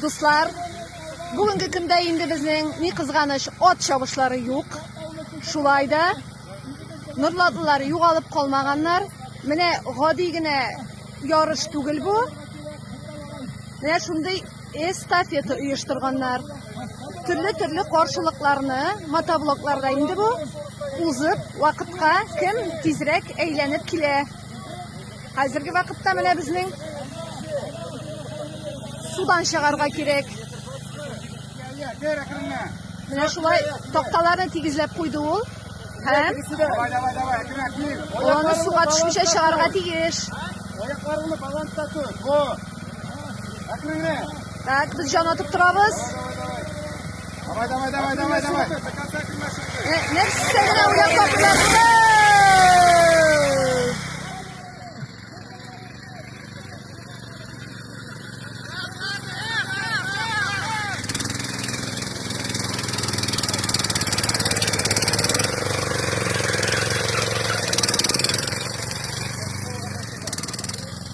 Дуслар, бүгенге көндә инде безнең ни кызганыч ат чабышлары юк. Шулай да норлатлылар югалып калмаганнар. Менә гади генә ярыш түгел бу. Менә шундый эстафета оештырганнар. Төрле-төрле каршылыкларны мотоблокларда инде бу узып, вакытка кем тизрәк әйләнеп килә. Хәзерге вакытта менә безнең судан чыгарга кирәк. Менә шулай такталарны тигезләп куйды ул. Һәм аны суга төшмичә чыгарга тиеш. Аякларыңны баланста тот. Так, без җан атып торабыз. Давай, давай, давай, давай, давай.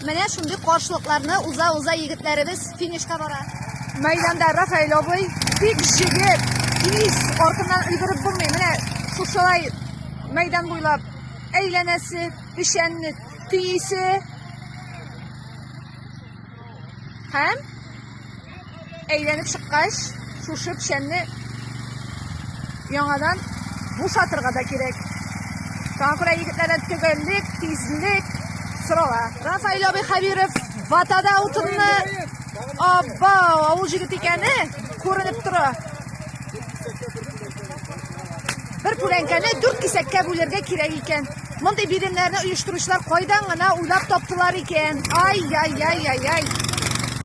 Менә шундый каршылыкларны уза-уза егетләребез Финишка бара. Мәйданда Рафаэль абый бик җигеп, тиз артыннан өлгереп булмый. Менә шушылай мәйдан буйлап әйләнәсе, печәнне тиисе һәм әйләнеп чыккач, Шушы печәнне яңадан бушатырга да кирәк. Шуңа күрә егетләрдән төгәллек, тизлек сорала. Рафаил абый Хәбиров ватада утынны абба авыл җигет икәне күренеп тора. Бер күләнкәне дүрт кисәккә бүлергә кирәк икән. Мондый биремнәрне оештыручылар кайдан гына уйлап таптылар икән? Ай-яй-яй-яй-яй.